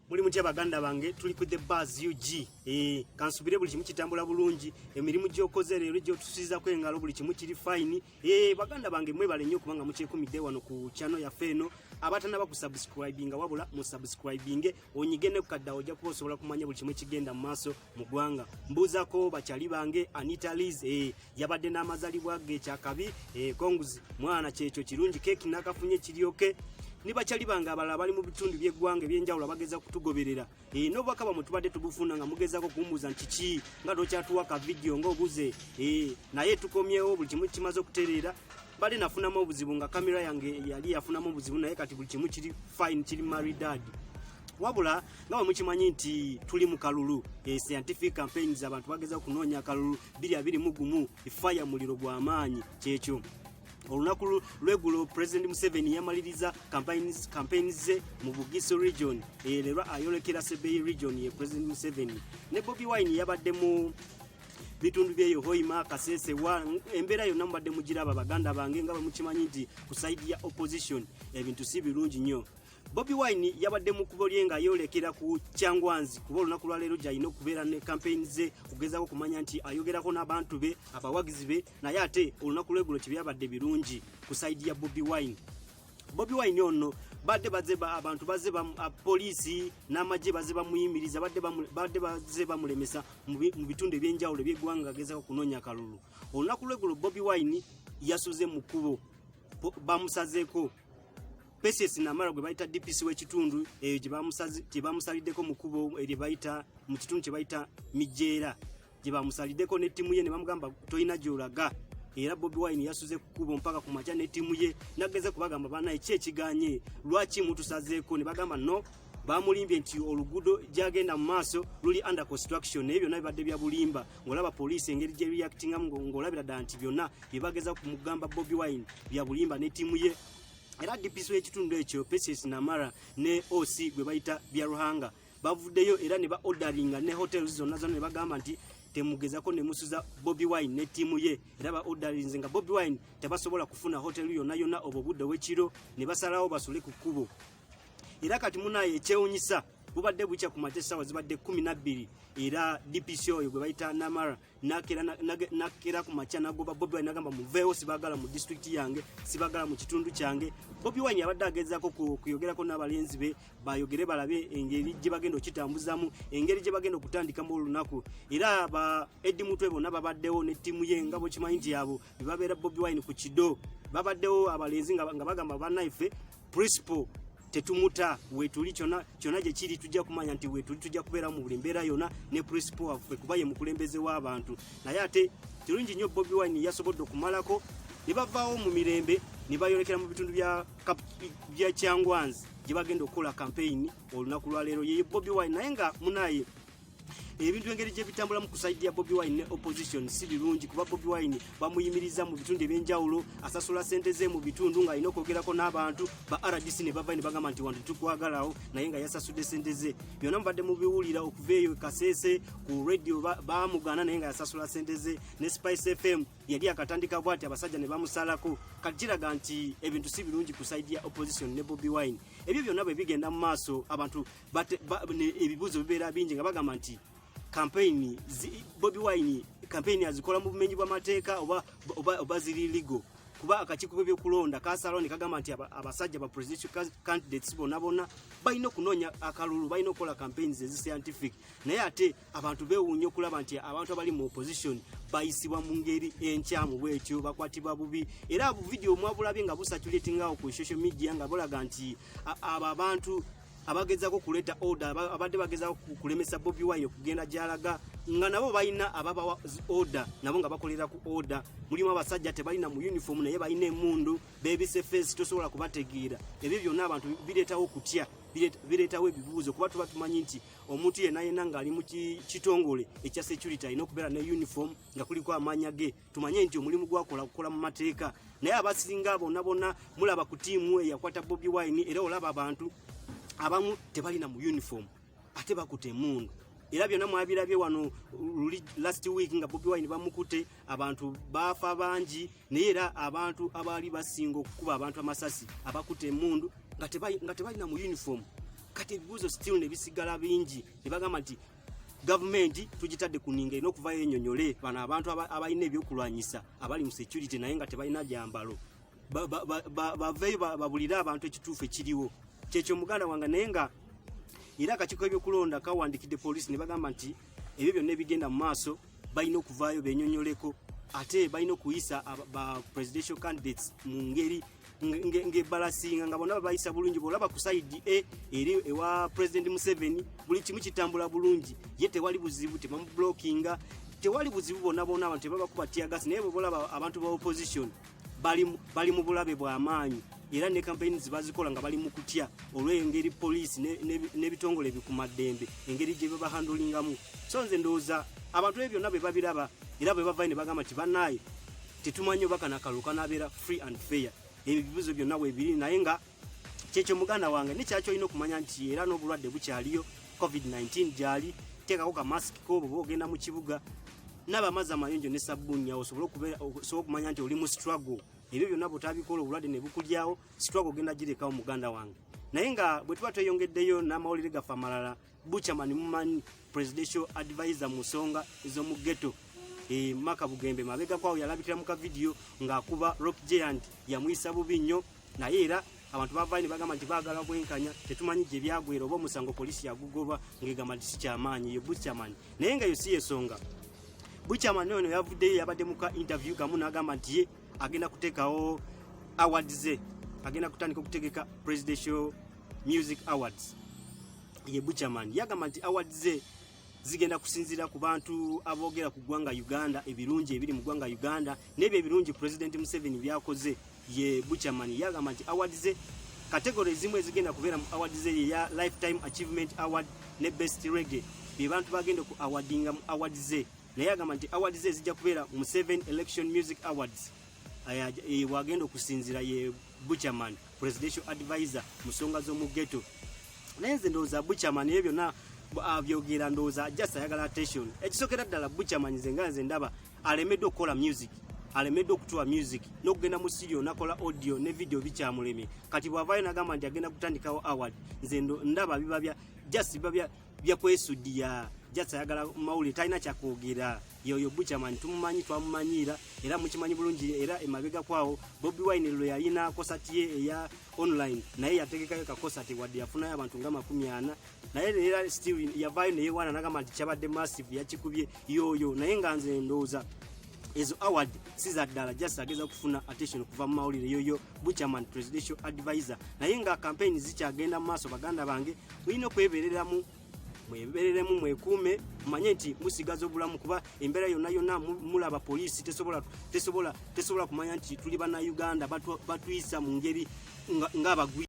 muli mutya baganda bange tuli ku the bars ug eh, kansubire buli kimu kitambula bulungi emirimu gyokoze leero gyotusizako engalo buli kimu kiri fine eh, baganda bange mwebale nnyo kubanga mukyekumidde wano ku chano yaffe eno abatanaba ku subscribinga wabula mu subscribinge onyige ne kukaddawo ojja kuba osobola kumanya buli kimu ekigenda mu maaso mu ggwanga mbuuzako bakyali bange anita liz eh, yabadde n'amazalibwa ge kyakabi eh, konguzi mwana kyekyo kirungi keeki nakafunye kiryoke ni bakyali bange abalala bali mu bitundu by'eggwanga ebyenjawulo abageza kutugoberera eh, n'obubaka bamwe tubadde tubufuna nga mugezako kumbuuza nti ki nga tokyatuwa ka vidiyo ng'obuze eh, naye tukomyewo buli kimu kimaze okutereera bali nafunamu obuzibu nga kamera yange yali yafunamu obuzibu naye kati buli kimu kiri fine kiri maridadi wabula nga bwe mukimanyi nti tuli mu kalulu e scientific campaigns abantu bageza okunoonya akalulu biri abiri mu gumu efaya muliro gwa maanyi kyekyo olunaku lwegulo president museveni yamaliriza campaigns ze mu bugiso region ererwa ayolekera sebei region ye president museveni ne bobi wine yabadde mu bitundu byeyo hoima kasese wa embeera yonna mubadde mugiraba baganda bange nga bwe mukimanyi nti ku saidi ya opposition ebintu si birungi nnyo Bobi Wine yabadde mu kubo lye nga yolekera ku Kyangwanzi kuba olunaku lwa leero gyalina okubeera ne kampeyini ze okugezaako okumanya nti ayogerako n'abantu be abawagizi be naye ate olunaku lwegulo tebyabadde birungi ku saidi ya Bobi Wine. Bobi Wine ono badde baze ba abantu baze ba poliisi n'amagye baze bamuyimiriza badde badde baze bamulemesa mu bitundu eby'enjawulo eby'eggwanga agezaako okunoonya akalulu olunaku lwegulo Bobi Wine yasuze mu kkubo bamusazeeko Patience Namara gwe bayita DPC w'ekitundu eyo gye bamusaliddeko mu kubo erye bayita mu kitundu kye bayita Mijeera gye bamusaliddeko ne ttiimu ye ne bamugamba tolina gy'olaga era Bobi Wine yasuze ku kubo mpaka ku makya ne ttiimu ye nageze kubagamba banaye ki ekiganye lwaki mutusazeeko ne bagamba no bamulimbye nti oluguudo gyagenda mu maaso luli under construction naye byonna bibadde bya bulimba ng'olaba poliisi engeri gye reactingamu ng'olabira ddala nti byonna bye bageza ku mugamba Bobi Wine bya bulimba ne ttiimu ye era DPC w'ekitundu ekyo Patience Namara ne OC gwe bayita Byaruhanga bavuddeyo era ne ba orderinga ne hotels zonna zonna ne bagamba nti temugezako ne musuza Bobby Wine ne tiimu ye era ba orderinze nga Bobby Wine tebasobola kufuna hotel yonna yonna obwo budde w'ekiro ne basalawo basule ku kkubo era kati munaye ekyewunyisa bubadde bukya ku makya essaawa zibadde kumi na bbiri era DPC oyo gwe bayita Namara nakera nakera ku macha nagoba bobi wine nagamba muveewo sibagala mu district yange sibagala mu kitundu kyange bobi wine abadde agezaako kuyogerako n'abalenzi be bayogere balabe engeri gye bagenda okitambuzamu engeri gye bagenda okutandikamu olunaku era ba edi mutwe bonna babaddewo ne ttiimu ye nga bwekimanyi nti abo bebabeera bobi wine ku kido babaddewo abalenzi nga bagamba banaife principal tetumuta wetuli kyona kyona gye kiri tujja kumanya nti wetuli tujja kubeera mu buli mbeera yona ne principal waffe kuba ye mukulembeze w'abantu naye ate kirungi nnyo bobi wine yasobodde okumalako ne bavaawo mu mirembe ne bayolekera mu bitundu bya bya kyangwanzi gye bagenda okukola kampeyini olunaku lwaleero yeye bobi wine naye nga munaye ebintu engeri gye bitambulamu ku saidi ya bobi wine ne opposition si birungi kuba bobi wine bamuyimiriza mu bitundu ebyenjawulo asasula sente ze mu bitundu ng'alina okwogerako n'abantu ba rdc ne bava ne bagamba nti wantu tukwagalawo naye nga yasasudde sente ze byonna mubadde mubiwulira okuva eyo kaseese ku radio baamugaana naye nga yasasula sente ze ne spice fm yali akatandika bwati abasajja ne bamusalako kakiraga nti ebintu si birungi ku saidi ya opposition ne bobi wine ebyo byonna bwe bigenda mu maaso abantu ebibuuzo bibeera bingi nga bagamba nti kampeyini bobi wine kampeyini azikola mu bumenyi bw'amateeka oba ziri ligo kuba akakiiko k'ebyokulonda kasalawo ne kagamba nti abasajja ba presidential candidates bonna bonna balina okunoonya akalulu balina okukola campaigns ezi scientific naye ate abantu beewuunya okulaba nti abantu abali mu opposition bayisibwa mu ngeri enkyamu bwetyo bakwatibwa bubi era buvidiyo omwabulabye nga busaculatingawo ku social media nga bulaga nti abo abantu abagezako kuleta order abadde bagezako kulemesa Bobi Wine okugenda gyalaga nga nabo balina ababawa order nabo nga bakolera ku order mulimu abasajja tebalina mu uniform naye balina emundu bebise face tosobola kubategeera ebyo byonna abantu bireetawo kutya bireetawo ebibuuzo kuba tuba tumanyi nti omuntu yenna yenna ng'ali mu kitongole ekya security alina okubeera ne uniform nga kuliko amaanya ge tumanye nti omulimu gwakola kukola mu mateeka naye abasinga bonna bonna mulaba ku tiimu eyakwata bobi wine era olaba abantu abamu tebalina mu uniform ate bakute emundu era byonna mwabirabye wano luli last week nga bobi wine bamukute abantu baafa bangi naye era abantu abaali basinga okukuba abantu amasasi abakute emundu nga tebalina mu uniform kati ebibuuzo still nebisigala bingi nebagamba nti gavumenti tugitadde ku ninga erina okuvayo enyonyole bano abantu abalina ebyokulwanyisa abali mu security naye nga tebalina gyambalo baveyo babulire abantu ekituufu ekiriwo kyekyo muganda wange naye nga era akakiiko ebyokulonda kawandikidde polisi ne bagamba nti ebyo byonna ebigenda mu maaso balina okuvaayo benyonyoleko ate balina okuyisa ba presidential candidates mu ngeri ngebalasinga nga bona babayisa bulungi bwolaba ku saidi e eri ewa president museveni buli kimu kitambula bulungi ye tewali buzibu tebamublockinga tewali buzibu bona bona abantu tebabakuba tiagasi naye bwebolaba abantu ba opposition bali mu bulabe bwamaanyi era ne kampeyini zibazikola nga bali mu kutya olw'engeri poliisi n'ebitongole ebikumaddembe engeri gye bebahandulingamu so nze ndowooza abantu ebyo byonna bwe babiraba era bwe bavayo ne bagamba nti bannaaye tetumanyi oba kana kalulu kanabeera free and fair ebibuzo byonna webiri naye nga kyekyo muganda wange nekyaki olina okumanya nti era n'obulwadde bukyaliyo covid-19 gyali teekako kamasiki koobo oba ogenda mu kibuga naba amazzi amayonjo ne sabbunya osobole okumanya nti oli mu struggle ebyo byonna bwotabikola obulwadde ne bukulyawo struggle ogenda girekawo muganda wange naye nga bwe tuba tweyongeddeyo n'amawulire gaffe amalala Buchaman mumanyi presidential advisor mu nsonga ez'omu ghetto e Maka Bugembe mabega kwawo yalabikira mu kavidiyo ng'akuba Rock Giant yamuyisa bubi nnyo naye era abantu bavaayo ne bagamba nti baagala bwenkanya tetumanyi gye byagwera oba omusango poliisi yagugoba ng'egamba nti sikyamaanyi ye Buchaman naye nga yo si yesonga Buchaman ono yavuddeyo yabadde muka interview kamu n'agamba nti ye agenda kuteekawo awards ze agenda kutandika okutegeka presidential music awards ye Buchaman yagamba nti awards ze zigenda kusinzira ku bantu aboogera ku ggwanga Uganda ebirungi ebiri mu ggwanga Uganda n'ebyo ebirungi Pulezidenti Museveni byakoze ye Buchaman yagamba nti awards ze kategori ezimu ezigenda kubeera mu awards ze ye ya Lifetime Achievement Award ne Best Reggae bye bantu bagenda ku awardinga mu awards ze naye agamba nti awards ze zijja kubeera mu Seven Election Music Awards bwagenda okusinzira ye buchaman presidential advisor musonga zomugeto naye nze ndowooza buchaman ebyo byonna abyogera ndowooza just ayagala attention ekisokera ddala buchaman nze nga nze ndaba alemeddwa okukola music alemeddwa okutuwa music n'okugenda mu studio nakola audio ne video bikyamulemye kati bwavayo nagamba nti agenda kutandikawo award nze ndaba biba bya just biba bya bya kwesudiya just ayagala mawulire talina kyakwogera yoyo buchaman tumumanyi twamumanyiira era mukimanyi bulungi era emabega kwawo bobi wine lwe yalina kosati ye eya online naye yategekayo kakosati wadde yafunayo abantu nga makumi ana naye era still yavayo neyewaana nagamba nti kyabadde massive yakikubye yoyo naye nga nze ndowooza ezo award si za ddala just ageza kufuna attention okuva mu mawulire yoyo buchaman presidential advisor naye nga campaign zikyagenda mu maaso baganda bange mulina okwebereramu mwebereremu mwekuume mumanye nti musigaza obulamu kuba embeera yonna yonna mulaba poliisi tesobola tesobola tesobola kumanya nti tuli bana uganda batuyisa mu ngeri ng'abagwi